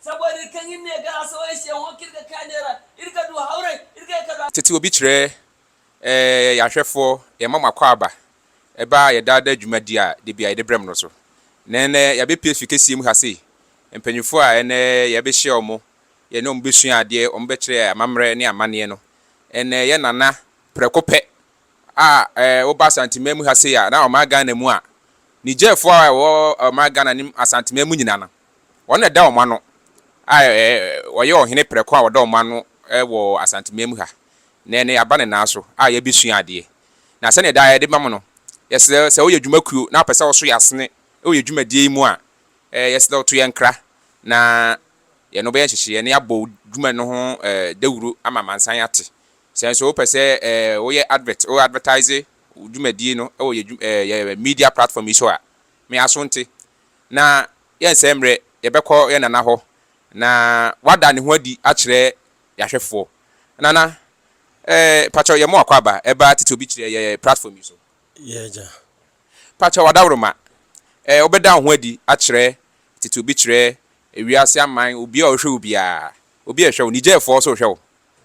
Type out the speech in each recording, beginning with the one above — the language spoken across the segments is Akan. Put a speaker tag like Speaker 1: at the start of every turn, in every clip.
Speaker 1: Saboda irka hin ne ga asaway se hon k'irga ka neera, irga du hawray, irgay ka du. Tete obi kyerɛ
Speaker 2: yɛn ahwɛfoɔ, yɛn mma mo akwaaba, ɛba yɛn daa daa dwuma di a da biara yɛde brɛ mo no so. Na ɛnnɛ yɛabɛ pue afiri kɛseɛ mu ha sei. Mpanyinfoɔ a ɛnnɛ yɛbɛ hyia wɔn, yɛne wɔn bɛ sua adeɛ, wɔn bɛ kyerɛ yɛn amammerɛ ne amaneɛ no, ɛnnɛ yɛn nana prɛko pɛ a wo ba Asanteman mu ha sei a na ɔmaa Ghana mu a, Nigerfoɔ a ɛwɔ ɔmaa Ghana ne Asanteman mu nyinaa no, Wɔn na ɛda wɔn ano a wɔyɛ ɔhene prɛko a ɔda wɔn ano wɔ Asanteman mu ha. Nnɛ yɛn yɛaba ne nan so a yɛrebɛsua adeɛ. Na sɛdeɛ daa yɛde ma mo no, yɛsrɛ sɛ woyɛ dwuma kuo na wopɛ sɛ woso yɛn asene wɔ yɛn dwumadie yi mu a, yɛsrɛ wo to yɛn nkra na yɛne wo bɛyɛ nhyehyeɛ na yɛabɔ wo dwuma no ho dawuro ama amansan ate. Sɛ nso wopɛ sɛ woyɛ advert, wo advertise wo dwumadie no wɔ yɛn media platform yi so a, me aso nte na yɛnsɛe mmerɛ, yɛbɛkɔ yɛn nana hɔ, na wada ne ho adi akyerɛ yɛn ahwɛfoɔ. Nana, eh, pakyɛw yɛmmɔ akwaaba, ɛba a tete obi kyerɛ yɛ platform yi so. Y'agya.
Speaker 3: Pakyɛw
Speaker 2: adaworoma, eh, wobɛda wo ho adi akyerɛ tete obi kyerɛ wiase aman, obi a ɔhwɛ wo biara, obi a ɛhwɛ wo, Nigerfoɔ nso rehwɛ wo,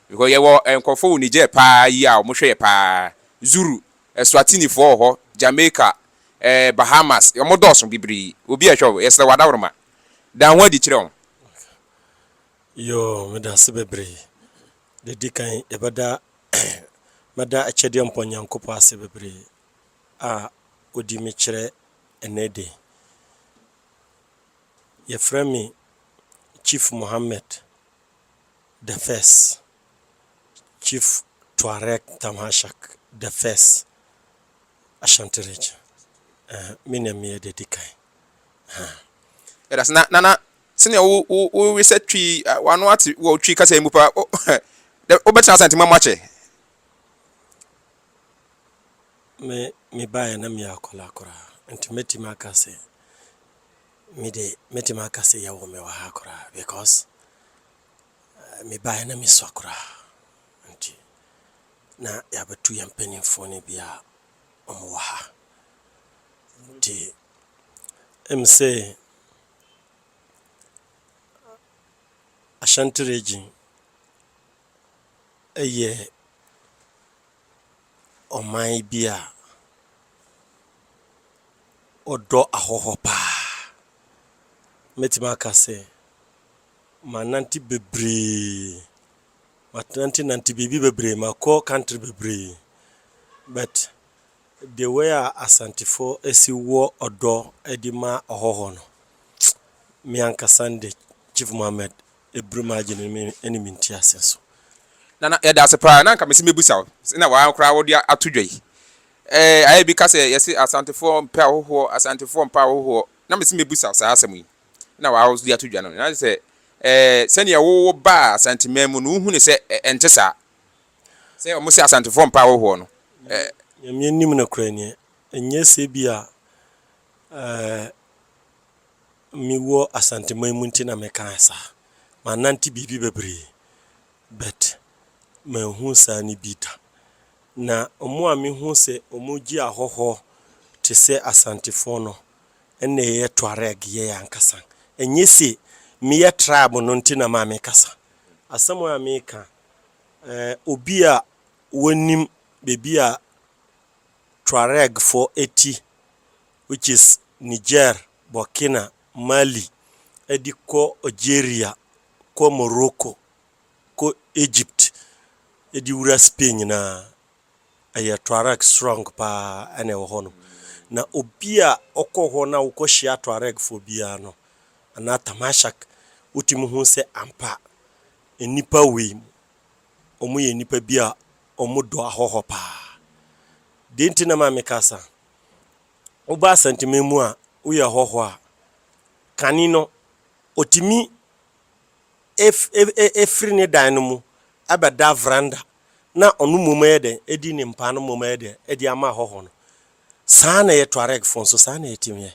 Speaker 2: because yɛwɔ nkorɔfoɔ wɔ Niger paa yi a wɔhwɛ yɛ paa, Zuru, Eswatinifoɔ wɔ hɔ, Jamaica, ɛɛ Bahamas, wɔn dɔɔso bebree. Obi a ɛhwɛ wo, yɛsrɛ wo adaworoma, da wo ho adi kyerɛ wɔn. Yoo,
Speaker 3: meda ase bebree. Deɛ ɛdi kan, yɛbɛda mɛda Akyɛdeɛ Mpɔn Nyankopɔn ase bebree a ɔdi me kyerɛ ɛnnɛ da yi. Wɔfrɛ me Chief Mohammed the First. Chief Touareg Tamashak the first Ashanti region eh, me na meyɛ deɛ di kan ha.
Speaker 2: Yɛda ase. Na Nana, sɛnea wo wo wo we sɛ Twi, ah, w'ano ate wɔ Twi kasa yi mu paa. O, dɛ wobɛtena Asante ma mu akyɛ.
Speaker 3: Me mebaeɛ na meyɛ akwadaa koraa nti mɛtumi aka sɛ me de mɛtumi aka sɛ yɛwɔ me wɔ ha koraa because Mebaeɛ na mesua koraa nti na yɛabɛto yɛn mpanimfoɔ no bi a wɔwɔ ha nti ɛm sɛ Ashanti region ɛyɛ ɔman bi a wɔdɔ ahɔhoɔ paa. Mɛtumi aka sɛ. Manante bebree, manantenante biribi bebree, makɔ country bebree but the way a Asantefoɔ asi wɔ ɔdɔ de ma ɔhɔhoɔ no, me ankasa no deɛ Chief Mohammed ɛbiri m'adwene mu ɛne me nteaseɛ nso. Nana,
Speaker 2: yɛda ase paa. Na anka mese mɛbusa wo, sɛ na woaa koraa wode ato dwa yi. Ɛɛ, ayɛ bi ka sɛ yɛse Asantefoɔ mpɛ ahohoɔ, Asantefoɔ mpɛ ahohoɔ. Na mese mɛbusa wo saa asɛm yi. na w'ahoso de ato dwa no, na sɛ ɛɛ sɛnea wowo baa Asanteman mu no, wohu no sɛ ɛ ɛnte saa. Sɛ wɔn se Asantefoɔ mpa ahohoɔ no, ɛ. Nyame anim
Speaker 3: no korɛ neɛ, ɛnyɛ sɛ bi a ɛɛ me wɔ Asanteman mu nti na me kaa saa. Manante biribi bebree, but manhu saa no bi da. Na wɔn a me hu sɛ wɔn gye ahɔhoɔ te sɛ Asantefoɔ no, Ɛnna yɛyɛ Tuareg, yɛyɛ ankasa. Ɛnyɛ se meyɛ tribe no nti na maa mekasa. Asɛm a meka, eh, obi a wɔnim baabi a Tuaregfoɔ ti, which is Niger, Burkina, Mali, de kɔ Algeria, kɔ Morocco, kɔ Egypt, de wura Spain nyinaa, ɛyɛ Tuareg srɔng paa na ɛwɔ hɔ no. Na obi a ɔkɔ hɔ na wokɔhyia Tuaregfoɔ biara no, anaa Tamashak, wotumi hu sɛ ampa nnipa wei, wɔyɛ nnipa bi a wɔdɔ ahɔhɔ paa. Deɛ nti na ma meka saa, woba Asantema mu a, woyɛ hɔhɔ a, kane no, ɔtumi firi ne dan no mu bɛda veranda na ɔno mmom yɛ dɛn? Adi ne mpaa no mmom yɛ dɛn? Adi ama ahɔho no. Saa na ɛyɛ Tuaregfoɔ nso, saa na yɛtumi yɛ.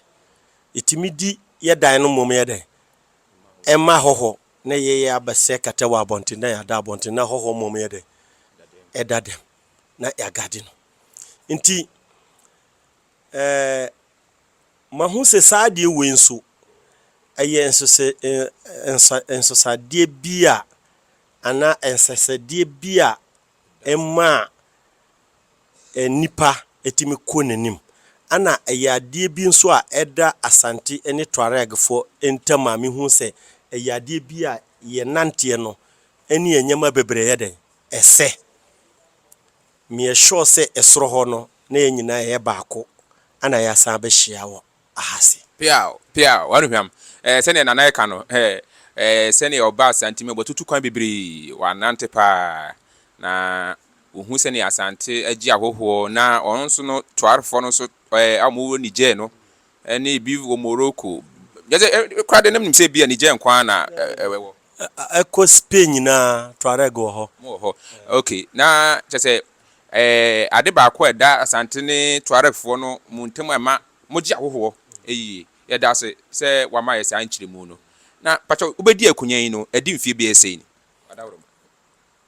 Speaker 3: Yɛtumi di yɛ dan no mmom yɛ dɛn? Ɛma ahɔho na ɛyɛ yɛ abɛsɛ kɛtɛ wɔ abɔnten na yɛada abɔnten na ahɔho mmom yɛ dɛn? Ɛda dɛm na yɛagade no. Nti. Ɛɛ, mahu sɛ saa adeɛ wei nso, ɛyɛ nsese, nsa, nsesadeɛ bi a, anaa nsɛsɛdeɛ bi a ɛma a nnipa tumi kɔ n'anim. Ɛna ɛyɛ adeɛ bi nso a ɛda Asante ne Tuaregfoɔ ntam a mehu sɛ ɛyɛ adeɛ bi a yɛn nanteɛ no ne yɛn nneɛma bebree yɛ dɛn? Ɛsɛ. Meyɛ sure sɛ ɛsoro hɔ no na yɛn nyinaa yɛyɛ baako ana yɛasan abɛhyia wɔ ahase. Peaw! Peaw!
Speaker 2: W'anuhwam! Ɛɛ sɛdeɛ Nana ɛka no, hɛɛ, ɛɛ sɛdeɛ ɔbaa Asante mu, w'atutu kwan bebree, w'anante paa, na wohu sɛdeɛ Asante agye ahɔhoɔ, na ɔno nso no Twaarfoɔ no nso, ɛɛ a wɔwɔ Niger no, Ɛne bi wɔ Morocco. Kyerɛ sɛ, koraa deɛ na menim sɛ ebia Niger nko ara na ɛwɔ. Kɔ
Speaker 3: Spain nyinaa, Tuareg wɔ hɔ. Wɔwɔ hɔ. Ok. Na
Speaker 2: kyerɛ sɛ, ɛɛ, ade baako a ɛda Asante ne Tuaregfoɔ no mo ntam a ɛma mogye ahohoɔ yie. Yɛda ase sɛ woama yɛn saa nkyerɛmu no. Na pakyɛw, wobɛdi akonnwa yi no, adi mfeɛ bɛyɛ sei ni? Wadaworo.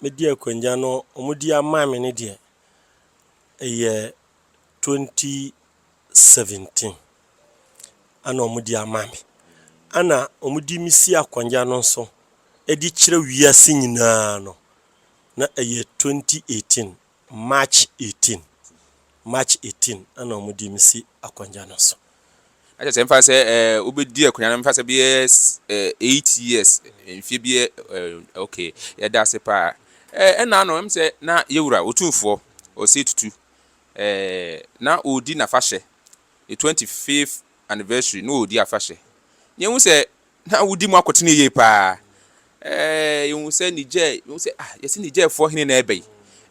Speaker 3: Medi akonnwa no, wɔde ama me no deɛ, ɛyɛ twenty. seventeen ana ɔmo de ama me. Ana ɔmo de me si akonnwa no so de kyerɛ wiase nyinaa no, na ɛyɛ twenty eighteen, March eighteen, March eighteen ana ɔmo de me si akonnwa no so. Na kyerɛ sɛ mfa
Speaker 2: sɛ ɛɛ wobɛdi akonnwa no mfa sɛ bɛyɛ ɛɛ eight years mfie bi ɛɛ ok yɛda ase paa ɛɛ ɛna ano ɛm sɛ na yɛwura otumfoɔ ɔsɛ tutu Ɛɛ, na ɔredi n'afahyɛ. Ne twenty fifth anniversary na ɔredi afahyɛ. Na yɛhu sɛ na wodi mu akotene yie paa. Ɛɛ, yɛhu sɛ Niger, yɛhu sɛ ah, yɛsi Nigerfoɔ hene na ɛbɛ yi.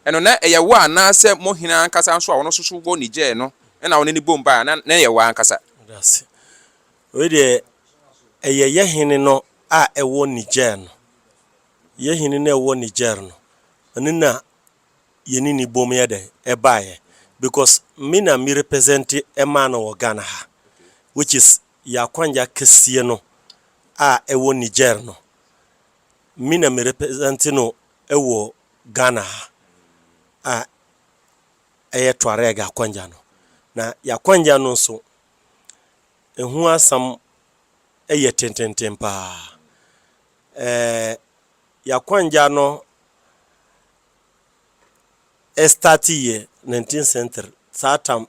Speaker 2: Ɛno na ɛyɛ wo anaasɛ mo hene ankasa nso a ɔno nso so wɔ Niger no na ɔne ne bom baa na na ɛyɛ wo ankasa. Dase.
Speaker 3: Wei deɛ, ɛyɛ yɛ hene no a ɛwɔ Niger no. Yɛ hene no a ɛwɔ Niger no, ɛno na yɛne no bom yɛ dɛn ɛbaeɛ because me na me represente ɛmaa no wɔ Ghana ha which is yɛn akwangya kɛseɛ no a ɛwɔ Niger no me na me represente no wɔ Ghana ha a ɛyɛ Tuareg akwangya no na yɛn akwangya no nso ɛho asɛm yɛ tententen paa Ɛɛ Yakwanja no starte yɛ nineteenth century saa tam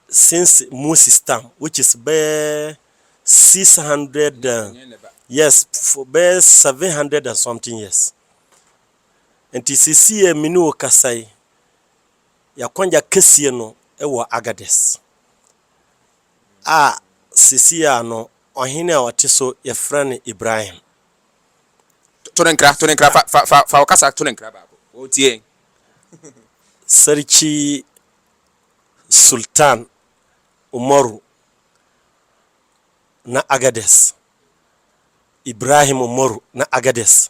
Speaker 3: since Moses tam which is bɛyɛ six hundred yes for bɛyɛ seven hundred and something years nti sisi yɛ me ne wo kasa yi Yakwanja kɛseɛ no wɔ Agadez a sesei a no ɔhene a ɔte so yɛfrɛ no Ibrahim.
Speaker 2: To no nkra, to no nkra, fa, fa, fa wo kasa to no nkra baako, wɔretie yɛn. Sarki
Speaker 3: Sultan Umaru na Agadez, Ibrahim Umaru na Agadez,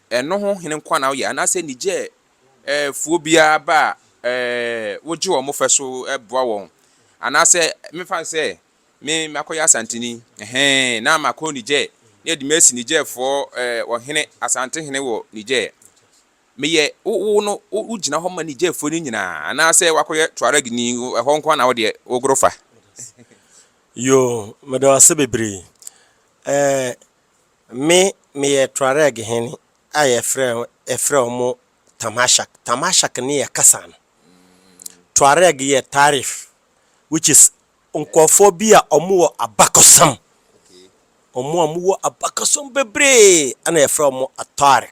Speaker 2: Ɛno ho hene nkoa na woyɛ anaasɛ Niger foɔ biara ba a wogye wɔn fɛ so boa wɔn anaasɛ mefa no sɛ me makɔyɛ asanteni ɛhɛn na makɔ Niger na yɛde me asi Niger foɔ ɔhene asante hene wɔ Niger meyɛ wo no wogyina hɔ ma Niger foɔ no nyinaa anaasɛ wakɔyɛ Tuareg ni ɛhɔ nkoa na wodeɛ wogoro fa. Yoo,
Speaker 3: meda wo ase bebree. Ɛɛ, Me, meyɛ Tuareg hene a yɛfrɛ, yɛfrɛ wɔn Tamashak. Tamashak ne yɛ kasa no. Tuareg yɛ Taarif, which is nkorɔfoɔ bi a wɔn wɔ abakɔsɛm. Wɔn a wɔn wɔ abakɔsɛm bebree na yɛfrɛ wɔn Atuareg.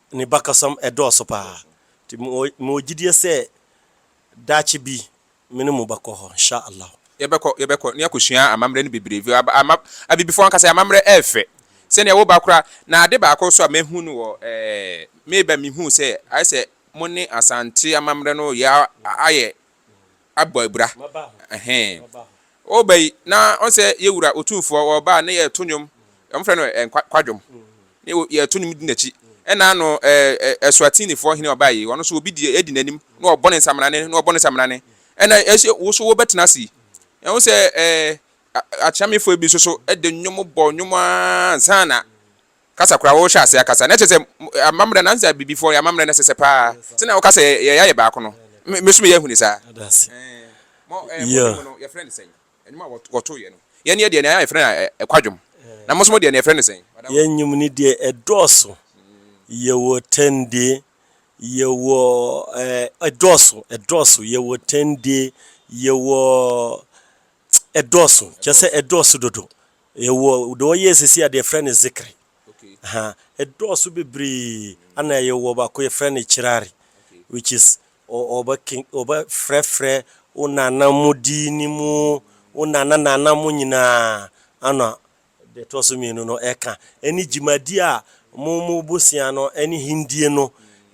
Speaker 3: ne bakasam dɔɔso paa. Nti mewɔ mewɔ gyidie sɛ daakye bi me ne mo bɛkɔ hɔ nhyah Allah. Yɛbɛkɔ yɛbɛkɔ na
Speaker 2: yɛakɔsua amammerɛ no bebree vio aba ama abibifoɔ ankasa yɛ amammerɛ ɛyɛ fɛ sɛdeɛ wo ba koraa na ade baako nso a mahu no wɔ ɛɛ me ba mehuu sɛ ayɛ sɛ mo ne Asante amammerɛ no yɛ ayɛ abɔ abira ɛhɛn ɔba yi na ɔnsɛ yɛ wura otumfoɔ ɔba ne yɛ to nnwom wɔn fɛ no ɛɛ kwadwom ne yɛ to nnwom di n'akyi ɛna ano ɛɛ ɛsoatinifoɔ hene ɔba yi wɔn nso obi di edi n'anim na ɔbɔ ne nsamena ne na ɔbɔ ne nsamena ne ɛna ɛsɛ woso wɔbɛtena ase yi ɛho sɛ ɛɛ akyɛmefoɔ bi nso so ɛde nnwom bɔ nnwom aa nsa na kasa koraa wɔrehyɛ ase akasa na kyerɛ sɛ amammerɛ no ansa bibifoɔ yɛ amammerɛ no ɛsɛ sɛ paa sɛ na wɔkasa yɛ yɛayɛ baako no meso meyɛ ahuni saa wɔto yɛ no yɛn yɛ deɛ na yɛfrɛ no ɛkwadwom na mosomo deɛ na yɛfrɛ no sɛn yɛn nyim no deɛ
Speaker 3: ɛdɔɔso yɛwɔ tɛndie yɛwɔ ɛdɔɔso ɛdɔɔso yɛwɔ tɛndie yɛwɔ ɛdɔɔso kyɛ sɛ ɛdɔɔso dodo Yɛwɔ deɛ wɔyɛ sisi a deɛ yɛfrɛ no zikri. Aha, ɛdɔɔso bebree. Ɛna yɛwɔ baako yɛfrɛ no kirari which is wɔbɛfrɛfrɛ wo nana mo din no mu, wo nana nana mo nyinaa. Ɛna deɛ ɛtɔ so mmienu no ɛka ɛne dwumadie a mo mo bosea no ɛne hendie no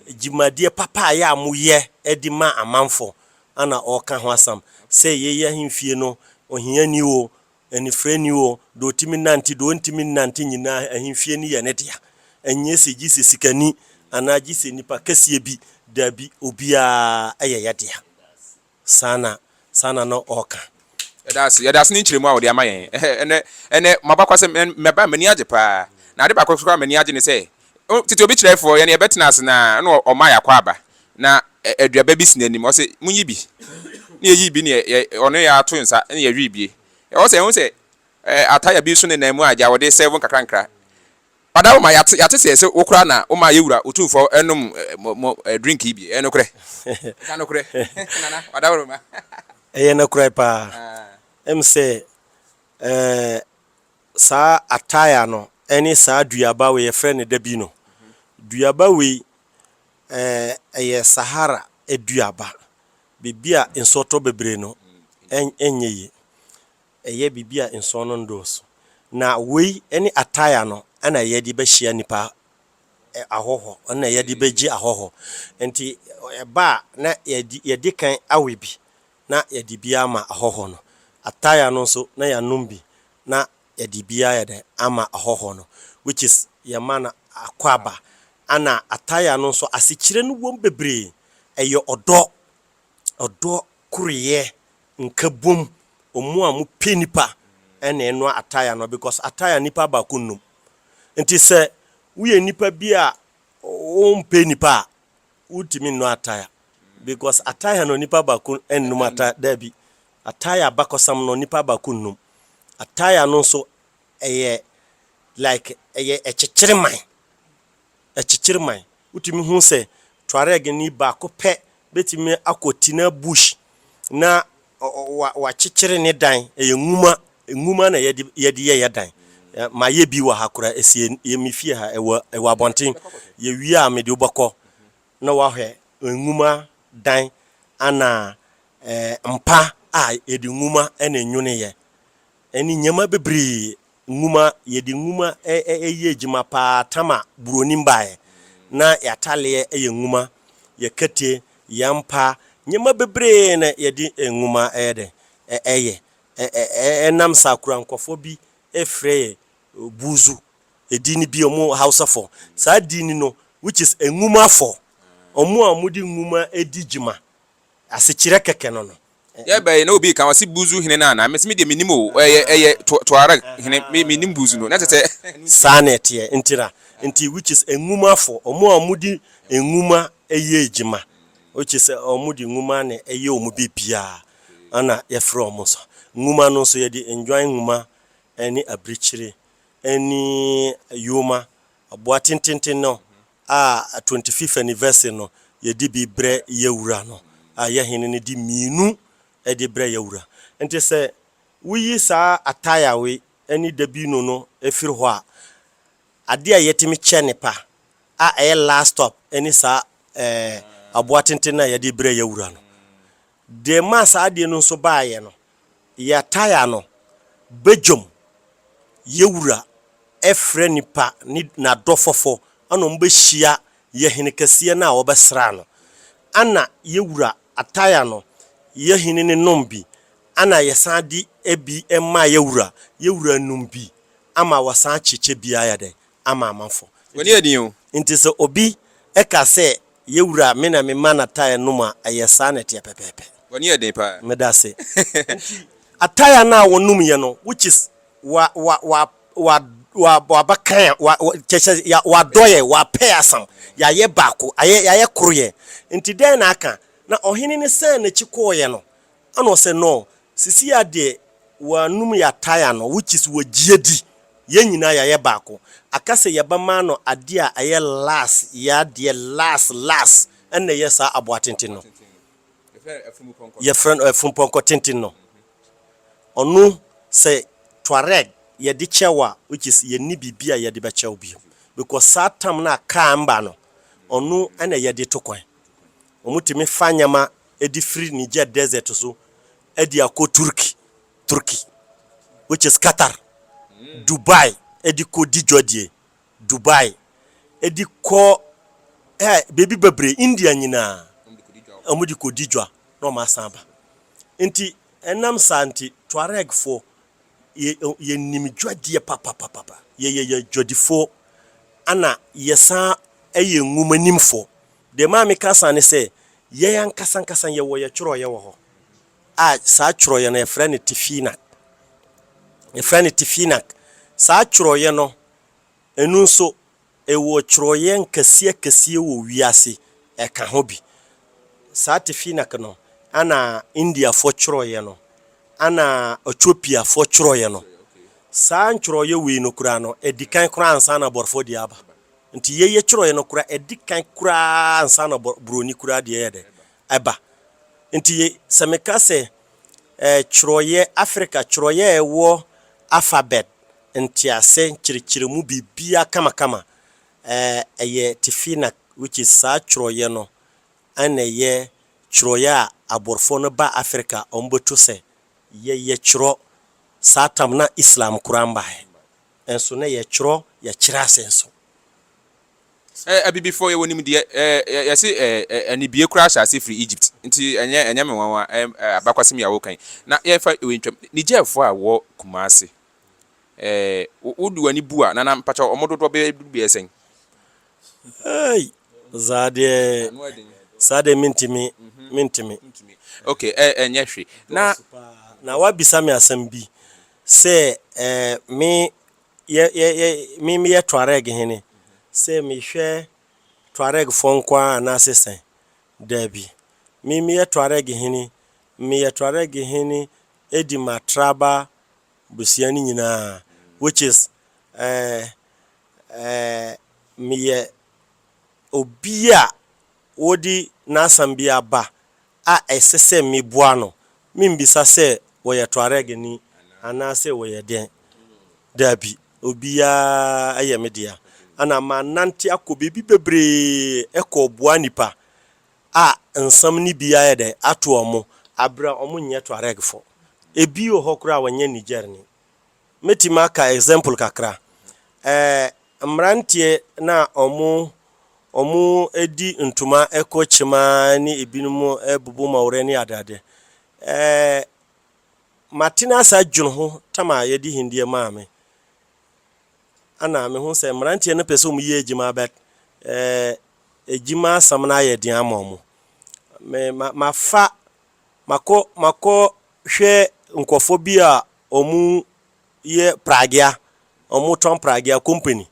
Speaker 3: dwumadie papa a ɛyɛ a moyɛ de ma amanfoɔ. Ɛna ɔka ho asɛm sɛ yei ahemfie no ohiani o, Anifere nni hɔ, deɛ ɔtumi nante, deɛ ɔntumi nnante nyinaa ahemfie no yɛ ne dea. Ɛnyɛ sɛ gye sɛ sikani anaa gye sɛ nnipa kɛseɛ bi, daabi, obiara ɛyɛ yɛ dea. Saa na, saa na na ɔreka. Yɛda ase, yɛda
Speaker 2: ase ne nkyerɛmu a ɔde ama yɛn ɛnɛ, ɛnɛ, ɛnɛ, mo abakwasɛm, mɛba, m'ani agye paa, na ade baako nso koraa a m'ani agye ne sɛ, O, tete obi kyerɛe fo, yɛne yɛ bɛtena ase, na ɛna ɔmaa y'akwaaba, na ɛ, aduaba bi si n'anim, ɔse, monyi bi. Ne yɛyii bi ne yɛ, yɛ, ɔne yɛ ato nsa, ne yɛwee bie. Ɛwɔ sɛ yɛhu sɛ, ɛ, ataya bi nso nenam mu a, gya wɔde sɛɛvo nkakrankra. Ɔda wo ma, yɛate, yɛate sɛ ɛsɛ wo koraa na womaa yɛ Wura Otumfoɔ nom ɛ, mo, mo, ɛ, drink yi bi. Ɛyɛ nokorɛ? Ka nokorɛ, Nana, ɔda wo ma. Ɛyɛ nokorɛ
Speaker 3: paa. Ah. Ɛm sɛ, ɛ, saa ataaya no ne saa duaba wei, yɛfrɛ no dabi no. Duaba wei, ɛyɛ Sahara aduaba, biribi a nsuo tɔ bebree no, ɛnyɛ yie. Ɛyɛ biribi a nsuo no nnɔɔso. Na wei ne ataaya no na yɛde bɛhyia nnipa, ahɔhɔ, ɛno na yɛde bɛgye ahɔhɔ. Nti ɛba a na yɛde kan awe bi na yɛde bi ama ahɔhoɔ no. Ataya no nso, na yɛanom bi, na yɛde bi ayɛ dɛn? Ama ahɔhoɔ no, which is, yɛma no akwaaba. Ɛna ataya no nso, asekyerɛ no wom bebree. Ɛyɛ ɔdɔ, ɔdɔ, koreɛ, nkabom, wɔn a wɔpɛ nnipa na ɛnoa ataya no because ataya nnipa baako nnum. Nti sɛ woyɛ nnipa bi a wompɛ nnipa a, Wotumi nnɔ attire because attire no nipa baako nnum attire daabi attire abakɔsam no nipa baako nnum attire no nso ɛyɛ like ɛyɛ ɛkyekyere man ɛkyekyere man wotumi hu sɛ Tuareg ni baako pɛ bɛtumi akɔ Tina bush na wɔakyekyere ne dan. Ɛyɛ nwuma, nwuma na yɛde yɛde yɛ yɛ dan. Mayɛ bi wɔ ha koraa, ɛsi yɛ me fie ha, ɛwɔ ɛwɔ abɔnten. Yɛwie a, mede wo bɛkɔ na woahwɛ nwuma dan ana ɛɛ mpa a yɛde nwuma na ɛnwoneyɛ ɛne nneɛma bebree Nwuma, Yɛde nwuma yɛ adwuma pa ara. Tama Buronim baeɛ na yɛataleɛ yɛ nwuma, yɛ kete, yɛ mpa, nneɛma bebree na yɛde nwuma yɛ dɛn? yɛ. Ɛnam saa kura nkurɔfoɔ bi frɛ yɛ Buzu, edin bi, wɔn Hausafoɔ. Saa edin no which is Nwumafoɔ, wɔn a wɔde nwuma di dwuma. Asekyerɛ kɛkɛ no no. Yɛ bɛn na obi
Speaker 2: ka ɔse Buzu hene no anaa? Mese me deɛ mennim oo, ɛyɛ ɛyɛ Tuareg hene, me mennim Buzu no, na kyerɛ sɛ. Saa na ɛteɛ,
Speaker 3: ntira, nti which is nwuma fo, ɔmo a ɔmo de nwuma ɛyɛ adwuma, which is ɔmo de nwuma na ɛyɛ ɔmo bibiaa, ɛna yɛfrɛ ɔmo sa. Nwuma no nso yɛde ndwan nwuma ɛne abirikyire ɛne yoma, aboa tententen no a twenty fifth anniversary no yɛde bi brɛ yɛ wura no a yɛ hene no de mmienu de brɛ yɛ wura nti sɛ woyi saa ataya wei ne dabino no firi hɔ a adeɛ a yɛtumi kyɛ ne pa a ɛyɛ last stop ne saa ɛɛ aboa tenten no a yɛde brɛ yɛ wura no Deɛ ɛmaa saa adeɛ no nso baeɛ no, Yataia no badwam yɛ wura frɛ nipa ne n'adɔfɔfɔ ana wɔn bɛhyia yɛ hene kɛseɛ no a wɔbɛsraa no. Ana yɛ wura Ataia no yɛ hene no nom bi ana yɛsan de bi ma yɛ wura, yɛ wura nom bi ama wɔsan kyekyɛ biaa yɛ dɛn? ama amafo. W'ani yɛ den o.
Speaker 2: Enti sɛ obi
Speaker 3: ka sɛ, Yɛ wura, me na mema no ataaya nom a, ɛyɛ saa na ɛteɛ pɛpɛɛpɛ. W'ani yɛ den paa.
Speaker 2: Meda ase. Enti
Speaker 3: ataaya no a wɔnom yɛ no, which is wa, wa, wa, wa, wa, wabakan a, wa, wa, kyɛ, kyɛ, ya, wadɔ yɛ, wapɛ yɛ asam, yɛayɛ baako, ayɛ, yɛayɛ koro yɛ. Enti dɛn na aka? Na ɔhene no san n'akyi kɔeɛ no, Ana ɔsɛ no, sisi a deɛ wɔanom yɛatae ano, which is wɔagye adi, yɛn nyinaa yɛayɛ baako, aka sɛ yɛbɛma no adeɛ a ɛyɛ las, yɛ adeɛ las las, ɛna ɛyɛ saa aboa tenten no, yɛfrɛ no afunupɔnkɔ tenten no, ɔno sɛ Tuareg yɛde kyɛ wo a, which is yɛnni biribi a yɛde bɛkyɛ wo bio, because saa tam no a kaa mma no, ɔno ɛna yɛde to kwan, wɔtumi fa nneɛma de firi Niger Desert so de akɔ Turkey, Turkey, which is Qatar, Dubai de kɔ di dwadie, Dubai de kɔ eh, baabi bebree, India nyinaa, wɔn de kɔ di dwa na wɔn asan aba. Nti ɛnam saa nti Tuaregfoɔ yɛ yɛnim dwadie papapapapa, yɛyɛ yɛ dwadifoɔ ɛna yɛsan yɛ nwomanimfoɔ. Deɛ ɛma meka saa ne sɛ, yɛn ankasa ankasa yɛwɔ yɛn twerɛeɛ wɔ hɔ, a saa twerɛeɛ no yɛfrɛ no Tifinak. Yɛfrɛ no Tifinak. Saa twerɛeɛ no, ɛno nso, ɛwɔ twerɛeɛ nkɛseɛ akɛseɛ wɔ wiase, ɛka ho bi. Saa Tifinak no, ɛna Indiafoɔ twerɛeɛ no, ɛna Ɛtiopiafoɔ twerɛeɛ no. Saa ntwerɛeɛ wei no koraa no, ɛdi kan koraa ansa na Aborɔfoɔ deɛ aba. Nti yei yɛtwerɛeɛ no koraa ɛdi kan koraa ansa na borɔni koraa deɛ yɛdɛ ɛba. Nti sɛ meka sɛ eh, twerɛeɛ, Africa twerɛeɛ a ɛwɔ alphabet ntease nkyerɛkyerɛmu biribiara kamakama eh, ɛyɛ Tefina which is saa twerɛeɛ no ɛna ɛyɛ twerɛeɛ a aborɔfoɔ no baa Africa a wɔbɛto sɛ yɛyɛ twerɛ saa tam na Islam koraa mbaeɛ. Nso na yɛtwerɛ, yɛkyerɛ ase nso.
Speaker 2: Eh, Abibifoɔ, yɛwɔ nimdeɛ. Eh, Yɛse eh, anibie koraa hyɛ aseɛ firi Egypt. Nti ɛnyɛ, ɛnyɛ me nwanwa, eh, abakwasɛm yi a woka yi. Na yɛmfa wei ntwam, Nigerfoɔ a wɔwɔ Kumasi, eh, wo de w'ani bu a, Nana, mpakyɛw, wɔn dodoɔ bɛyɛ duru bɛyɛ sɛn? Ei, saa deɛ, Ano yɛ den.
Speaker 3: saa deɛ mentumi, mentumi. Wontumi.
Speaker 2: Ok, eh, ɛnyɛ hwe. Na. Dɔɔso paa.
Speaker 3: Na woabisa me asɛm bi. Sɛ eh, me yɛ yɛ yɛ me me yɛ Tuareg hene, sɛ me hwɛ Tuareg foɔ nko ara anaa se sɛn? Daabi, me me yɛ Tuareg hene, me yɛ Tuareg hene edi m'atraba busua no nyinaa, which is eh, eh, me yɛ obi a wɔde n'asɛm bi aba a ɛsɛ sɛ meboa no, mimmisa sɛ wɔyɛ Tuareg-ni anaasɛ wɔyɛ dɛn. Dabi, obiara yɛ me dea. Ɛnna manante akɔ baabi bebree kɔboa nnipa a nsɛm no bi ayɛ dɛ ato wɔn, bere a wɔnyɛ Tuaregfo. Ebi wɔ hɔ koraa a wɔnyɛ Niger-ni. Mɛtumi aka example kakra. Ɛɛ mmeranteɛ no a wɔn wɔn di ntoma kɔ kyem ara ne ebinom bubu mɔwerɛ ne adeade. Ɛɛ matena ase adwene ho tam a yɛde hindeɛ maa me. Ɛna mehu sɛ mmeranteɛ no pɛ sɛ wɔn yɛ adwuma but ɛɛ adwuma asɛm no ayɛ den ama wɔn. Me ma mafa makɔ makɔ hwɛ nkorɔfoɔ bi a Ɔmo yɛ pragea, ɔmo tɔn pragea, company,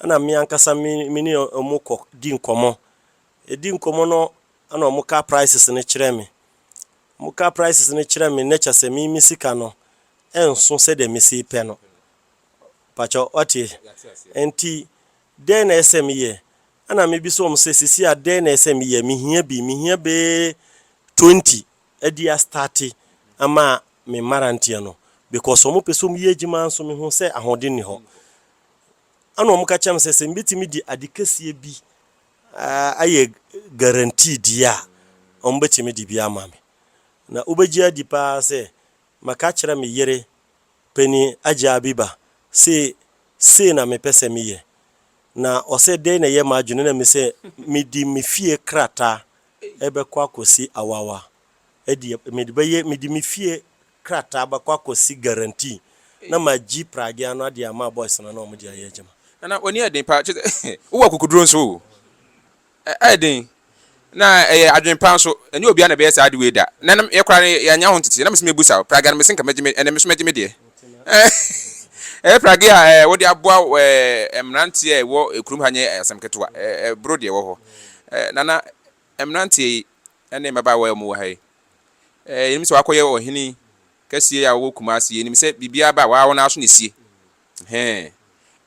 Speaker 3: ɛna me ankasa me me ne ɔmo kɔ di nkɔmɔ. Yɛdi nkɔmɔ no ɛna ɔmo ka prices no kyerɛ me. Ɔmo ka prices no kyerɛ me no kyerɛ sɛ me me sika no ɛnso sɛdeɛ me se pɛ no. Pakyɛ wate? Nti dɛn na ɛsɛ sɛ me yɛ? Ɛna me bisa ɔmo sɛ sisi a dɛn na ɛsɛ sɛ me yɛ? Me hia bi, me hia bee twenty. adi astarte ama me mmaranteɛ no because wɔn pɛ sɛ wɔn yɛ adwuma nso me hu sɛ ahoɔden nni hɔ ɛna wɔn ka kyerɛ me sɛ sɛ me bɛtumi de ade kɛseɛ bi ayɛ guarantee die a wɔn bɛtumi de bi ama me na wobɛgye adi paa sɛ maka kyerɛ me yere pani agya abiba se sei na me pɛ sɛ me yɛ na ɔsɛ dɛn na ɛyɛ m'adwene na me sɛ me di me fie krataa rebɛkɔ akɔsi Awawa. Ɛdeɛ mede bɛyɛ, mede me fie krataa bɛkɔ akɔsi guarantee na magye pragea no ade ama boys no na wɔn de ayɛ adwuma. Nana w'ani yɛ den paa
Speaker 2: kyerɛ sɛ wowɔ akukuduro nso o. Ɛyɛ den na ɛyɛ adwene pa nso. Ɛnyɛ obiara na ɛbɛyɛ saa ade wei da. Nana me koraa no yɛannya ho nteteeɛ na mese mɛbusa wo, pragea no mese nka mɛgye me, ɛnɛ me nso mɛgye me deɛ. Ɛyɛ pragea a wɔde aboa mmeranteɛ a ɛwɔ kurom ha nyɛ asɛm ketewa. Ɛboro deɛ ɛwɔ hɔ. Nana, mmeranteɛ yi ne mmabaawa yi a wɔwɔ ha yi, yɛnim sɛ wɔakɔyɛ ɔhene kɛseɛ a ɔwɔ Kumasi. Yɛnim sɛ biribiara ba a, wɔn ara wɔn ara so na ɛsie. Ɛhɛn.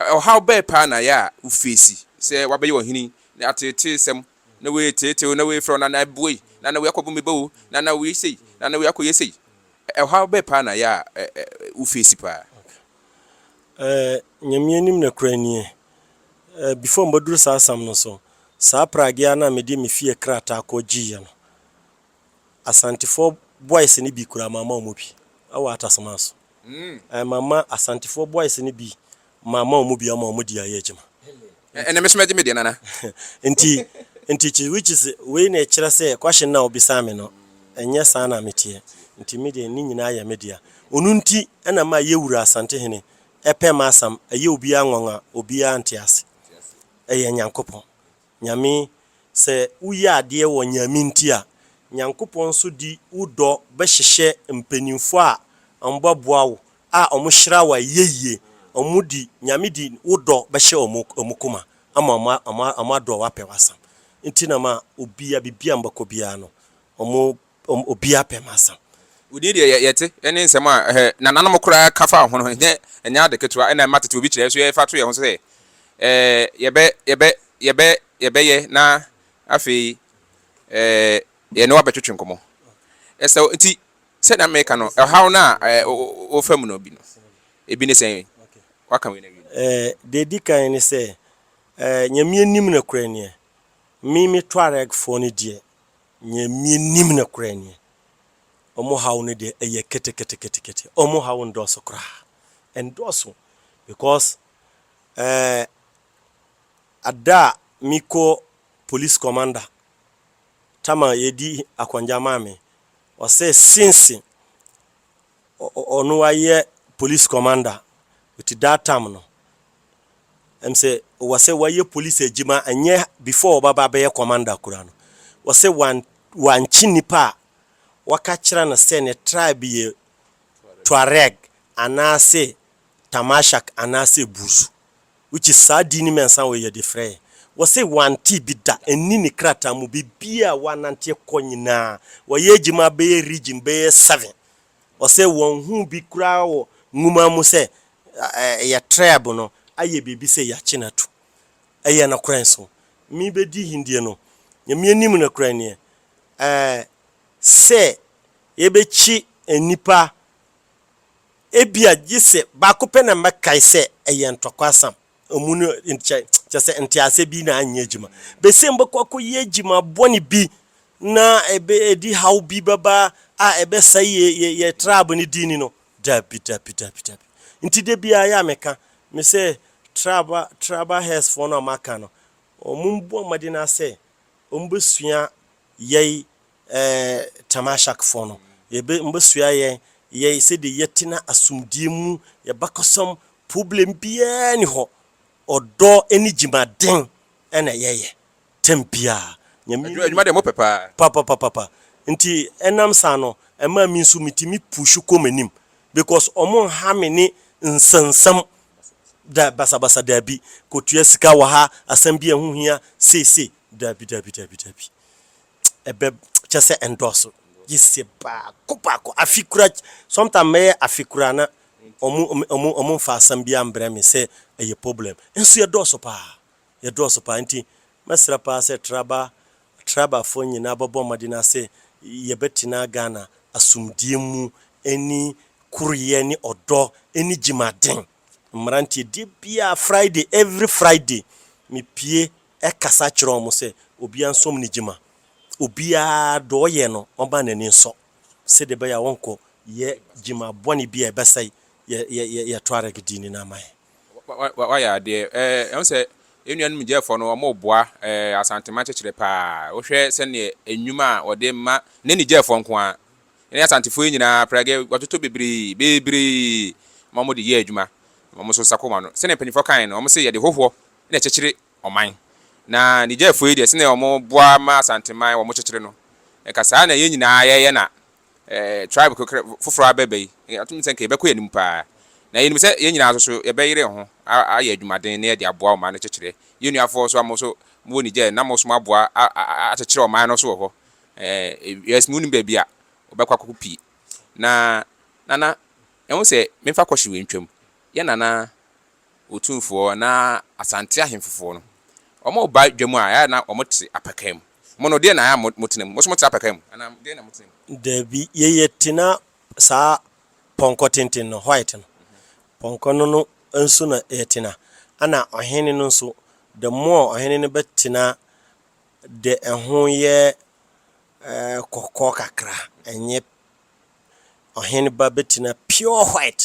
Speaker 2: Ɔhaw bɛn paa na yɛ a wofeesi sɛ wɔabɛyɛ ɔhene ne ateeteesɛm Na wei yɛ teetee o, na wei yɛ frɛ o, na na ɛboɔ yi, na na wei akɔbɔ me ba o, na na wei sei, na na wei akɔyɛ sei. Ɛhaw bɛn paa na yɛ a wo feesi paa? Ɛɛ,
Speaker 3: Nyame anim nokorɛ nie, ɛɛ, before mɛduru saa asɛm no so, saa pragea no a mede me fie krataa kɔ gyeeɛ no, Asantefoɔ boys no bi koraa mamma wɔn bi wɔ Atasoma so. Ɛɛ mamma Asantefoɔ boys no bi mamma wɔn bi ama wɔn de ayɛ adwuma. Ɛnɛ me nso mɛgye
Speaker 2: me deɛ nana. Nti
Speaker 3: nti kyi which is wei na ɛkyerɛ sɛ question no a wobisaa me no ɛnyɛ saa na meteɛ nti me deɛ ne nyinaa yɛ me dea. Ono nti na ma yɛ wura Asantehene ɛpɛ ma asam ɛyɛ obiara nwanwa obiara nte ase ɛyɛ Nyankopɔn. Nyame, sɛ wo yɛ adeɛ wɔ Nyame nti a, Nyankopɔn nso di wo dɔ bɛ hyehyɛ mpaninfoɔ a ɔmo bɛ boa wo a ɔmo hyira wo ayɛyie, ɔmo di Nyame di wo dɔ bɛ hyɛ ɔmo ɔmo koma ama ɔmo ɔmo ɔmo adɔ wo apɛ w'asam nti na ma obia bibia mbɛkɔ biara no ɔmo wɔn obiara pɛ ma sa. Wo din deɛ
Speaker 2: yɛte, ɛne nsɛm a nananom koraa ka faa ho no, ɛnyɛ ade ketewa. Ɛna mma tete obi kyerɛ nso yɛfa to yɛn ho so sɛ yɛbɛ, yɛbɛ, yɛbɛ, yɛbɛyɛ na afei yɛne wo abɛtwetwe nkɔmmɔ. Ɛsɛ wo. Nti sɛnea meka no, ɔhaw no a wofa mu no bi no, ebi ne sɛn? Woaka wei na awie no. Deɛ ɛdi kan ne
Speaker 3: sɛ, Nyame anim nokorɛ nie, me me Tuareg foɔ no deɛ, Nea minnim no koraa nie, wɔn haw no deɛ ɛyɛ keteketekete, wɔn haw nnɔɔso koraa, ɛnnɔɔso because eh, ada a mekɔ police commander tam a yɛdi akɔngya maa me, ɔsɛ since ɔno ayɛ police commander with that tam no, ɛmsɛ wɔsɛ wayɛ police adwuma ɛnyɛ before ɔbaba abɛyɛ commander kura no wɔsɛ wan wankye nipa a wɔka kyerɛ no sɛ ne tribe yɛ Tuareg anaasɛ Tamashak anaasɛ Buzu which is saa din no mɛnsa wɔ yɛde frɛ yɛ wɔsɛ wante bi da ɛnni ne krataa mu bebia wananteɛ kɔ nyinaa wayɛ adwuma bɛyɛ region bɛyɛ seven Ɔsɛ wɔnhuu bi koraa wɔ nwoma mu sɛ ɛyɛ trɛb no ayɛ biribi sɛ yɛakye no ato. Ɛyɛ nokorɛ nso. Me bɛdi hindie no, Nyame anim nokorɛ neɛ, ɛɛ, sɛ yɛbɛkye nnipa a, ebia gyesɛ baako pɛ na mɛkae sɛ ɛyɛ ntɔkwasam. Ɔmu no kyɛ kyɛ sɛ nteaseɛ bi na anyɛ adwuma. Besia no bɛkɔ akɔyɛ adwuma bɔne bi na ɛbɛ ɛdi haw bi bɛba a ɛbɛsɛe yɛ yɛ yɛ tribe no din no. Dabi dabi dabi dabi. Nti da biara yɛ a meka me sɛ tribe tribal heads foɔ no a wɔaka no wɔn mmɔ mmɔden ara sɛ wɔn bɛsua yɛn Ɛɛ, Tamashakfoɔ no, yɛbɛ, wɔbɛsoa yɛn, yɛn, sɛdeɛ yɛtena asomdwoeɛ mu, yɛn bakɔsɛm, problem biara nni hɔ. Ɔdɔ ne gyimaden na yɛyɛ, tɛm biara. Nyame Adwuma, adwuma deɛ
Speaker 2: mopɛ paa. Papapapapa.
Speaker 3: Nti, ɛnam saa no, ɛmaa me nso metumi puuhyi kɔ m'anim. Because wɔn nha me ne nsɛnsɛm, da, basabasa, daabi, kɔtua sika wɔ ha, asɛm bi a ɛho hia, sei, sei, daabi, daabi, daabi, daabi. ɛbɛ kyɛ sɛ ɛndɔɔso gye sɛ baako baako afe kura sometimes mɛyɛ afe kura na ɔmo ɔmo ɔmo nfa asɛm bi ambrɛ me sɛ ɛyɛ problem nso yɛ dɔɔso paa yɛ dɔɔso paa nti mɛsrɛ paa sɛ traba traba foɔ nyinaa bɛbɔ mmɔden asɛ yɛbɛtena Ghana asomdie mu ɛni koreyɛ ne ɔdɔ ɛni gyimaden mmeranteɛ deɛ biaa Friday every Friday me pie kasa kyerɛ wɔn sɛ obiara nsom ne gyima. Obiara deɛ ɔyɛ no ɔma n'ani nsɔ sɛdeɛ ɛbɛyɛ a wɔnkɔ yɛ gyima bɔne bi a ɛbɛsɛe yɛ yɛ yɛ yɛ Tuareg din no ama yɛn. Wa wa wayɛ
Speaker 2: adeɛ ɛɛ ɛho sɛ yɛn nuanom gyɛɛfoɔ no wɔn reboa ɛɛ Asanteman kyekyerɛ paa wohwɛ sɛdeɛ enyuma a wɔde ma ne ne gyɛɛfoɔ nko ara ɛne Asantefoɔ yi nyinaa prɛgɛ wɔtoto bebree bebree ma wɔn de yɛ adwuma wɔn nso nsa kɔ wɔn ano sɛdeɛ mpanyinfoɔ kan no wɔn se yɛde hohoɔ na ɛkyekyere ɔman. Na Nigerfoɔ yi deɛ, sɛdeɛ wɔboa ma Asanteman, wɔkyekyere no. Nka saa na yɛn nyinaa yɛyɛ na tribe kekerɛ foforɔ abɛba yi, atom no sɛ nka yɛbɛkɔ yɛn anim pa ara. Na yɛnim sɛ yɛn nyinaa nso yɛbɛyere yɛn ho ayɛ adwumaden na yɛde aboa ɔman no kyekyere. Yɛn nuafoɔ nso a mo nso mowɔ Niger na mo nso moaboa akyekyere ɔman no nso wɔ hɔ. Yes, monnim baabi a wɔbɛkɔ akɔko pii. Na Nana, ɛho sɛ memfa kɔhye wei ntwam. Yɛn Nana. Otumfoɔ na Asante ahemfofoɔ no, wɔba dwa mu a, ɛyɛ a na wɔte apakaa mu. Mo no, deɛn na ɛyɛ a motena mu? Mo nso mote apakaa mu? Anaa deɛn na motena mu? Dabi, yei
Speaker 3: yɛte na saa pɔnkɔ tenten no, white no, pɔnkɔ no no nso na yɛtena, ɛna ɔhene no nso, the more ɔhene no bɛtena deɛ ɛho yɛ kɔkɔɔ kakra, ɛnyɛ. Ɔhen ba bɛtina pure white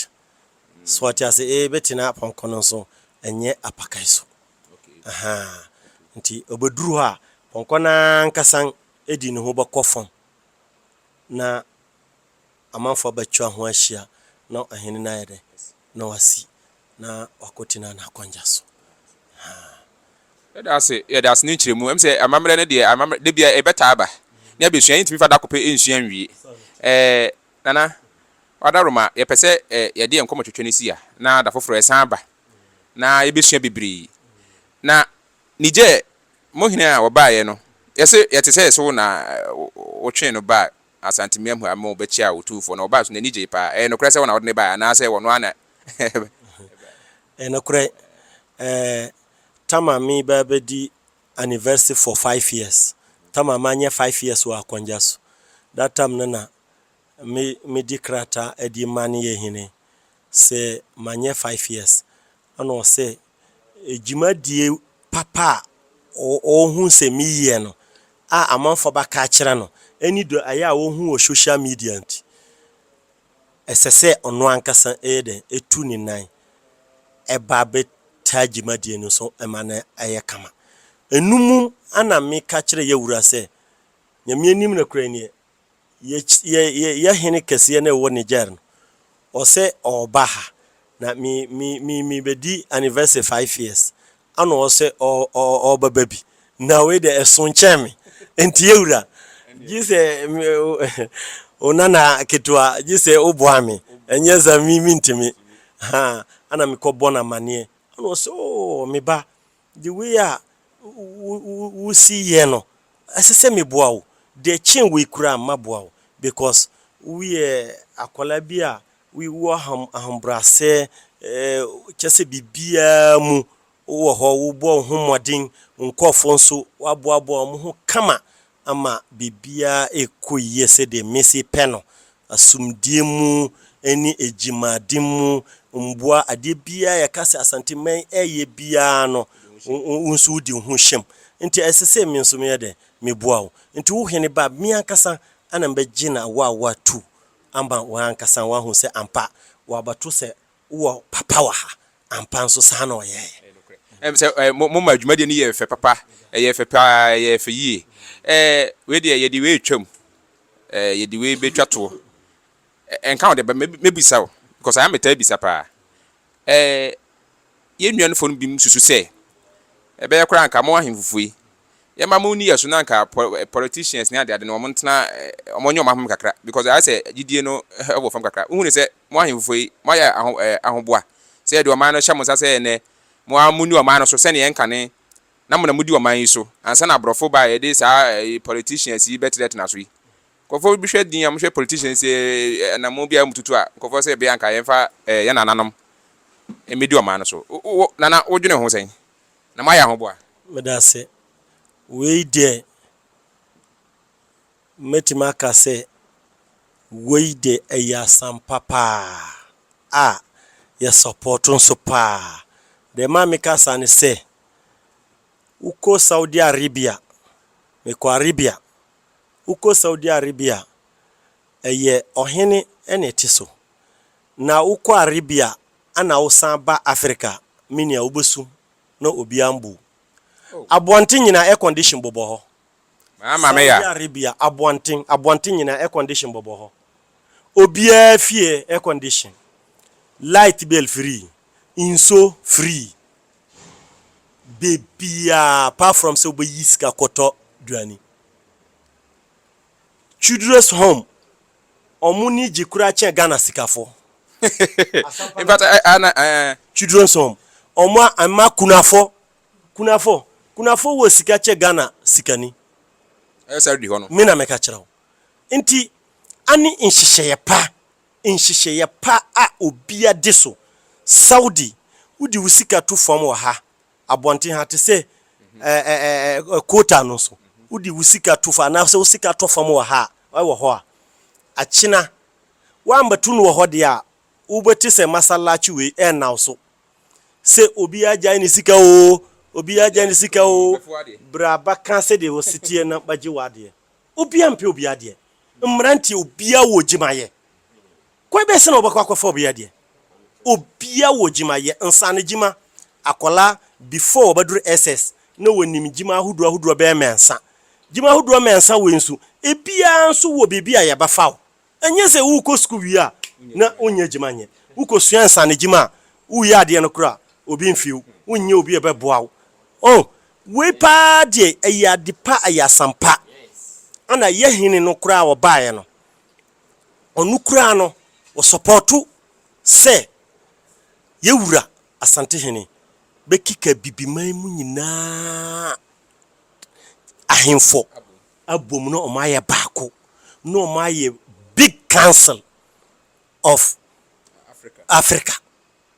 Speaker 3: so wate ase ee bɛtina apɔnkɔ no nso ɛnyɛ apakan so ahaa nti ɔbɛduru hɔ a pɔnkɔ no ara nkasan ɛdi ne ho bɛkɔ fam na amanfoɔ abɛtwa ho ahyia na ɔhene no ayɛ dɛn na wasi na wakɔtena n'akɔndza so. Haa. Yɛda
Speaker 2: ase, yɛda ase ne nkyerɛmu. Ɛm sɛ amammerɛ no deɛ, amammerɛ da biara ɛbɛtaa aba. Ne abɛsua, yɛntumi fa da ko pɛ nsua nwie. Ɛɛ, Nana, Wadaroma, yɛpɛ sɛ ɛ, yɛde yɛn nkɔmɔtwetwe no si ha, na da foforɔ yɛsan aba, na yɛbɛsua bebree. Na Niger, mo hene a ɔbaeɛ no, yɛse yɛte sɛ yɛse wo na wotwee no baa Asante Miamhua ama wɔbɛkyiaa Otumfoɔ na wɔbaa so na ani gyei paa. Ɛyɛ nokorɛ sɛ wɔn na wɔde no baeɛ anaa sɛ wɔn ara na ɛbaeɛ?
Speaker 3: Ɛyɛ nokorɛ. Ɛɛ Tama me ba bɛdi anniversary for five years. Tama manyɛ five years wɔ Akɔngya so. That time no na me medi krataa adi ma ne yɛ hene sɛ manyɛ five years. Ɛna ɔsɛ dwumadie papa a ɔhu sɛ me yɛ no a amanfoɔ bɛka akyerɛ no ɛne deɛ ayɛ a ɔhu wɔ social media nti ɛsɛ sɛ ɔno ankasa yɛ dɛn ɛtu ne nan ɛba bɛ taa dwumadie no so ɛma no ayɛ kama. Ɛnumum ɛna meka kyerɛ yawura sɛ Nyame anim nokorɛ nie yɛ hene kɛseɛ no ɛwɔ Niger no ɔsɛ ɔɔba ha na me me me me bɛdi anniversary five years ana ɔsɛ ɔɔba ba bi na wei deɛ ɛso nkyɛn me nti yɛwura gye sɛ wo nana ketewa gye sɛ woboa me ɛnyɛ sɛ me mentimi ha ana mekɔ bɔ no amanneɛ ana ɔsɛ ooo me ba The way a wusi yɛ no, ɛsɛ sɛ meboa wo. Deɛ ɛkyɛn wei koraa no, maboa wo because woyɛ akwadaa bi a wowɔ ahobrɛaseɛ, kyerɛ sɛ biribiara mu wowɔ hɔ, wobɔ wo ho mmɔden, wo nkurɔfoɔ nso woaboaboa wɔn ho kama ama biribiara rekɔ yie sɛdeɛ mesi pɛ no, asomdwie mu ne adwumaden mu, mmoa, adeɛ biara a yɛka sɛ Asanteman reyɛ biara no, wo nso wodi ho hyem. Nti ɛsɛ sɛ me nso meyɛ dɛn? Meboa wo. Nti wo Hene ba, me ankasa na mɛgye no awoawoa tu ama wo ankasa, woahu sɛ ampa, woabɛto sɛ Wowɔ papa wɔ ha. Ampa nso saa na ɔyɛeɛ. Ɛm sɛ ɛ
Speaker 2: mo mo ma dwumadie no yɛɛ fɛ papa ɛyɛɛ fɛ paa ɛyɛɛ fɛ yie ɛ wei deɛ yɛde wei retwa mu ɛ yɛde wei bɛtwa toɔ ɛ ɛnka ho deɛ but mɛ mɛbisa wo because ayɛ a metaa bisa paa ɛ yɛn nua no foɔ no binom susu sɛ ɛbɛyɛ koraa anka mo ahemfofo yi Yɛma mo nni yɛso na anka politicians ne ade ade no wɔn ntena wɔn ɔnyɛ wɔn ahome kakra because ayɛ sɛ gyidie no wɔ fam kakra wohu ne sɛ mo ahemfofo yi mo ayɛ aho ahoboa sɛ yɛde ɔman no hyɛ mo nsa sɛ ɛnɛ mo ara mo ni ɔman no so sɛnea ɛnkane na mo na mo di ɔman yi so ansa na aborɔfo ba yɛde saa politicians yi bɛtena tena so yi nkɔfo bi hwɛ din a mo hwɛ politicians yi na mo biara mo tutu a nkɔfo sɛ bia anka yɛmfa yɛn nananom mmedi ɔman no so nana wodwene ho sɛn Na moayɛ ahoboa. Meda ase.
Speaker 3: Wei deɛ, mɛtumi aka sɛ wei deɛ ɛyɛ asampa paa a yɛ support nso paa. Deɛ ɛma meka saa ne sɛ, wokɔ Saudi Arabia, mekɔ Arabia, wokɔ Saudi Arabia a, ɛyɛ ɔhene na ɛte so. Na wokɔ Arabia Ana wo san ba Africa me nua wo bɛ su na obia mbu wo. Aboɔnten nyinaa air condition bobɔ hɔ. Saudi
Speaker 2: Arabia aboɔnten
Speaker 3: aboɔnten nyinaa air condition bobɔ hɔ. Obiaa fie air condition. Light bill free. Nso free. Bebia apart from sɛ wo bɛ yi sika kɔtɔ duane. Childress home ɔmo ni gye kura kyɛn Ghana sikafo.
Speaker 2: Childress
Speaker 3: home ɔmo a mma kunafɔ kunafɔ kunafɔ wɔ sika kyɛ Ghana sikani.
Speaker 2: Me na meka kyerɛ wo.
Speaker 3: Nti ane nhyehyɛeɛ pa nhyehyɛeɛ pa a obia de so Saudi wode wo sika to fam wɔ ha abɔnten ha te sɛ Kota no so, wode wo sika to fa anaasɛ wo sika tɔ fam wɔ ha a, wɔ hɔ a, akyena woammɛto no wɔ hɔ deɛ a, wobɛte sɛ masallaci wei ɛrennaw so sɛ obiara agyae ne sika oo, obiara agyae ne sika oo, bra bɛka sɛdeɛ wɔsi teɛ na bɛgye w'adeɛ. Obiara mpɛ obiara deɛ. Mmeranteɛ, obiara wɔ adwumayɛ. Kwan bɛn so na wɔbɛkɔ akɔfa obi adeɛ? Obia wɔ gyima yɛ, nsane gyima, akɔla before wɔbɛduru SS na wɔnim gyima ahodoɔ ahodoɔ bɛyɛ mɛnsa. Gyima ahodoɔ mɛnsa wei nso ebiaa nso wɔ baabi a yɛbɛfa wo. Ɛnyɛ sɛ wokɔ sukuu wie a na wonyɛ gyima nyɛ. Wokɔ sua nsane gyima a woyɛ adeɛ no koraa obi mfee wo, wonyɛ obi a ɔbɛboa wo. Oh, wei paa deɛ ɛyɛ ade pa, ɛyɛ asɛmpa. Ɛna yɛ hene no koraa ɔbaeɛ no Ɔno koraa no wɔ sɔpɔɔto sɛ yɛ Wura Asantehene bɛkeka Abibiman mu nyinaa ahenfɔ abom na ɔmo ayɛ baako na ɔmo ayɛ Big Council of Africa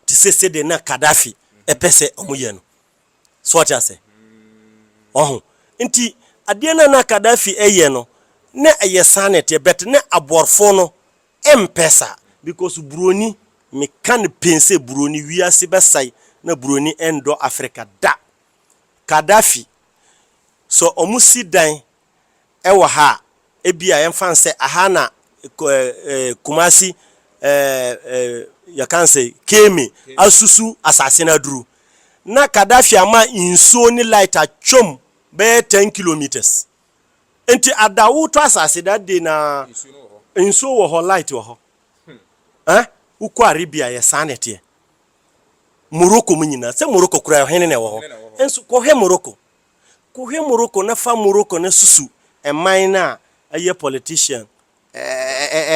Speaker 3: te sɛ sɛdeɛ na Kaddafi pɛ sɛ ɔmo yɛ no. So ɔte ase? Wahu? Nti, adeɛ no a na Kadhafi yɛ no, na ɛyɛ saa na ɛteɛ, but na aboɔrfoɔ no mpɛ saa. Because buroni, me ka no pen sɛ buroni, wiase bɛsae na buroni ndɔ Africa da. Kadhafi, sɛ ɔmo si dan wɔ ha a, ebia yɛmfa no sɛ aha na Kumasi yɛka no sɛ Kemi asusu asase no aduru. Na Kadafi ama nsuo ne light atwam bɛyɛ ten kilometres. Nti ada wotɔ asase that day na nsuo wɔ hɔ, light wɔ hɔ. Eh? Wokɔ Arabia yɛ saa na ɛteɛ. Morocco mu nyinaa. Sɛ Morocco koraa ɔhene na ɛwɔ hɔ. Nso kɔhwɛ Morocco. Ko hwɛ Morocco na fa Morocco no susu man no a ɛyɛ politician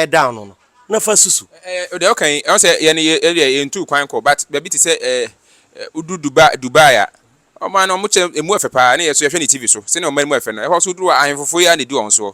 Speaker 3: da ano no na fa susu. Ɛɛ deɛ ɔka yi,
Speaker 2: ɔsɛ yɛ no yɛ deɛ yɛ ntuu kwan kɔ but baabi te sɛ ɛɛ wodu Dubai Dubai a, ɔman no ɔmo kyɛ emu ɛfɛ paa ne yɛ so yɛhwɛ no TV so sɛnea ɔman mu ɛfɛ no ɛhɔ so wodu a ahenfofo yi ara na edi wɔn soɔ.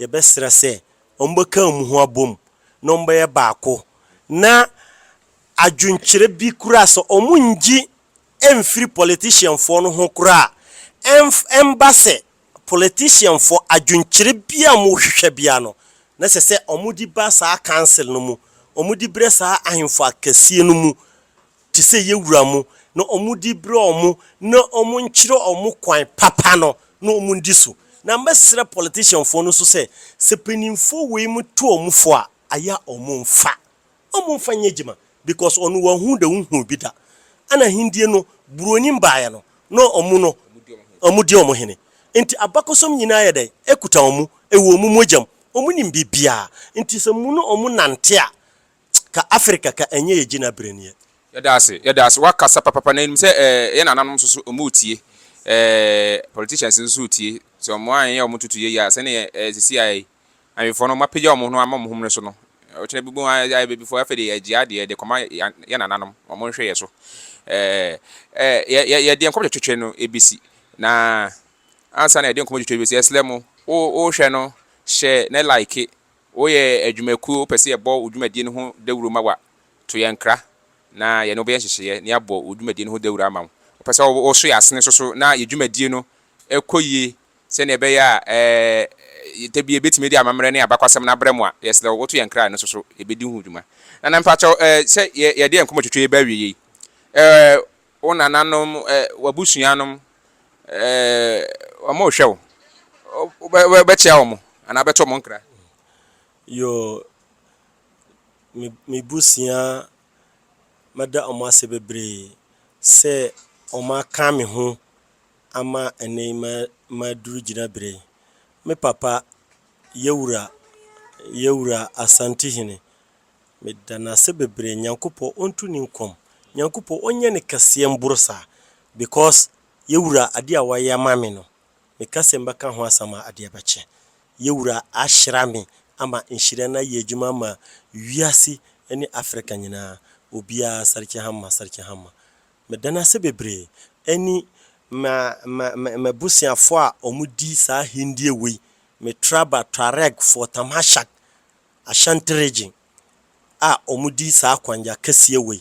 Speaker 3: Yɛbɛsrɛ sɛ wɔbɛka wɔn ho abom na wɔbɛyɛ baako, na adwenkyerɛ bi koraa sɛ wɔnngye mmfiri politician foɔ no ho koraa a, ɛmba sɛ politician foɔ adwenkyerɛ biara a wɔhwehwɛ biara no, na ɛsɛ sɛ wɔde ba saa council no mu, wɔde brɛ saa ahemfo akɛseɛ no mu. te sɛ yɛ wura mo, na ɔmo di berɛ ɔmo, na ɔmo nkyerɛ ɔmo kwan papa no na ɔmo ndi so. Na mɛsrɛ politician foɔ no nso sɛ, sɛ paninfoɔ wei mo to ɔmo fo a, ayɛ a ɔmo nfa ɔmo nfa nyɛ adwuma because ɔno wahu da wohuu bi da ana hendie no buronim baeɛ no na ɔmo no ɔmo di ɔmo hene nti abakɔsɔm nyinaa ayɛ dɛn ɛkuta ɔmo ɛwɔ ɔmo mogyam ɔmo nim biribiaa nti sɛ mo ne ɔmo nante a Ka Africa ka ɛnyɛ yɛ gyinabre neɛ. Yɛda ase yɛda
Speaker 2: ase wakasa papapa na yɛnim sɛ ɛɛ yɛn nananom nso so ɔmo retie ɛɛ politicians nso so retie sɛ ɔmo anyɛ ɔmo ntutu yɛ yie a sɛnea ɛɛ sisi ayɛ yi awefoɔ no ɔmo apagya ɔmo ho no ama ɔmo ho mmere so no ɔkyena bi bom ayɛ ayɛ babifoɔ afei de yɛgye adeɛ de kɔma yɛn nananom ɔmo nhwɛ yɛ so ɛɛ ɛɛ yɛ yɛ yɛde nkɔmɔ twetwe no ebesi na ansa na yɛde nkɔmɔ twetwe ebesi ɛsrɛ mo wo wohwɛ no hyɛ na like Woyɛ adwumakuo, wopɛ sɛ yɛbɔ wo dwumadie no ho dawuro ma wo a, to yɛn nkra na yɛne wo bɛyɛ nhyehyɛeɛ na yɛabɔ wo dwumadie no ho dawuro ama wo. Wopɛ sɛ woso yɛn asene nso so na yɛn dwumadie no kɔ yie sɛdeɛ ɛbɛyɛ a da bi yɛbɛtumi de amammerɛ ne abakwasɛm no abrɛ mo a, yɛsrɛ wo, woto yɛn nkra a ɛno nso so yɛbɛdi ho dwuma. Nana, mpakyɛw, sɛ yɛde yɛn nkɔmmɔtwitwi reba awieeɛ yi, wo nananom, w'abusua nom, Ɛɛ, wɔrehwɛ wo. Wobɛ, wobɛkyea wɔn anaa wobɛto wɔn nkra? Yoo,
Speaker 3: me, me busua, mɛda wɔn ase bebree sɛ wɔaka me ho ama ɛnnɛ yi ma, maduru gyinaberɛ yi. Me papa, Yawura, Yawura Asantehene Meda no ase bebree Nyankopɔ ɔntu ne nkɔm Nyankopɔ ɔnyɛ no kɛseɛ mboro saa because yɛwura adeɛ a wayɛ ama me no meka sɛ mbɛka ho asɛm a adeɛ bɛkye yɛwura ahyira me ama nhyira no ayɛ adwuma ama wiase ne Africa nyinaa obiara Sarki Hamma Sarki Hamma meda no ase bebree ɛne ma ma ma mabusuafoɔ a ɔmo di saa ahendie wei me traba Tuareg foɔ Tamashak Ashanti Region a wɔde saa akwannya kɛseɛ wei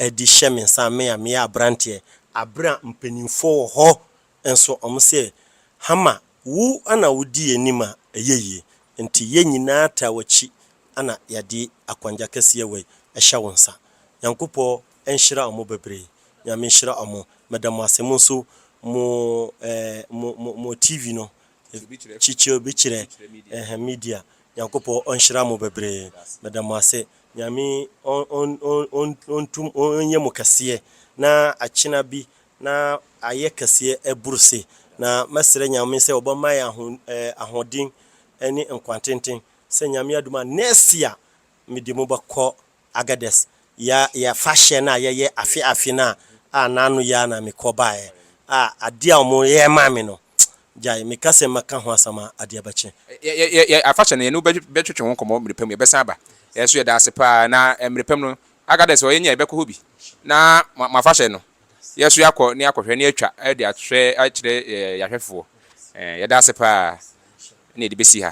Speaker 3: de hyɛ me nsa, me a meyɛ aberanteɛ, aberɛ a mpaninfoɔ wɔ hɔ nso wɔn sɛ, Hama, wo na wodi yɛn anim a, ɛyɛ yie. Nti yɛn nyinaa taa w'akyi na yɛde akwannya kɛseɛ wei hyɛ wo nsa. Nyankopɔn nhyira wɔn bebree. Nyame nhyira wɔn. Meda mo ase. Mo nso mo eh, mo, mo, mo TV no, Kyikyerɛ Media, Nyankopɔ ɔnhyira mo bebree meda mo ase Nyame ɔnyɛ mo kɛseɛ na akyena bi na ayɛ kɛseɛ aburu se na mɛsrɛ Nyame sɛ ɔbɛma yɛn ahoɔden ne nkwa tenten sɛ Nyame adom a nɛɛsia mede mo bɛkɔ Agadez, yɛ yɛ afahyɛ no a yɛyɛ afe afe no a a n'ano yɛ a na me kɔ baeɛ a adeɛ a wɔn yɛ maa me no gyae me ka sɛ mɛka ho asɛm a adeɛ bɛkye. Yɛ yɛ yɛ yɛ afahyɛ
Speaker 2: no yɛne wo bɛ bɛ twetwe ho nkɔmmɔ mmerɛ pa mu yɛbɛsan aba yɛn nso yɛda ase paa na mmerɛ pa mu no Agadez hɔ yɛnya a yɛbɛkɔ hɔ bi na mo mo afahyɛ no yɛn nso yɛakɔ na yɛakɔhwɛ na yɛatwa de ahwɛ akyerɛ yɛ yɛ ahwɛfoɔ ɛɛ yɛda ase paa na yɛde bɛsi ha.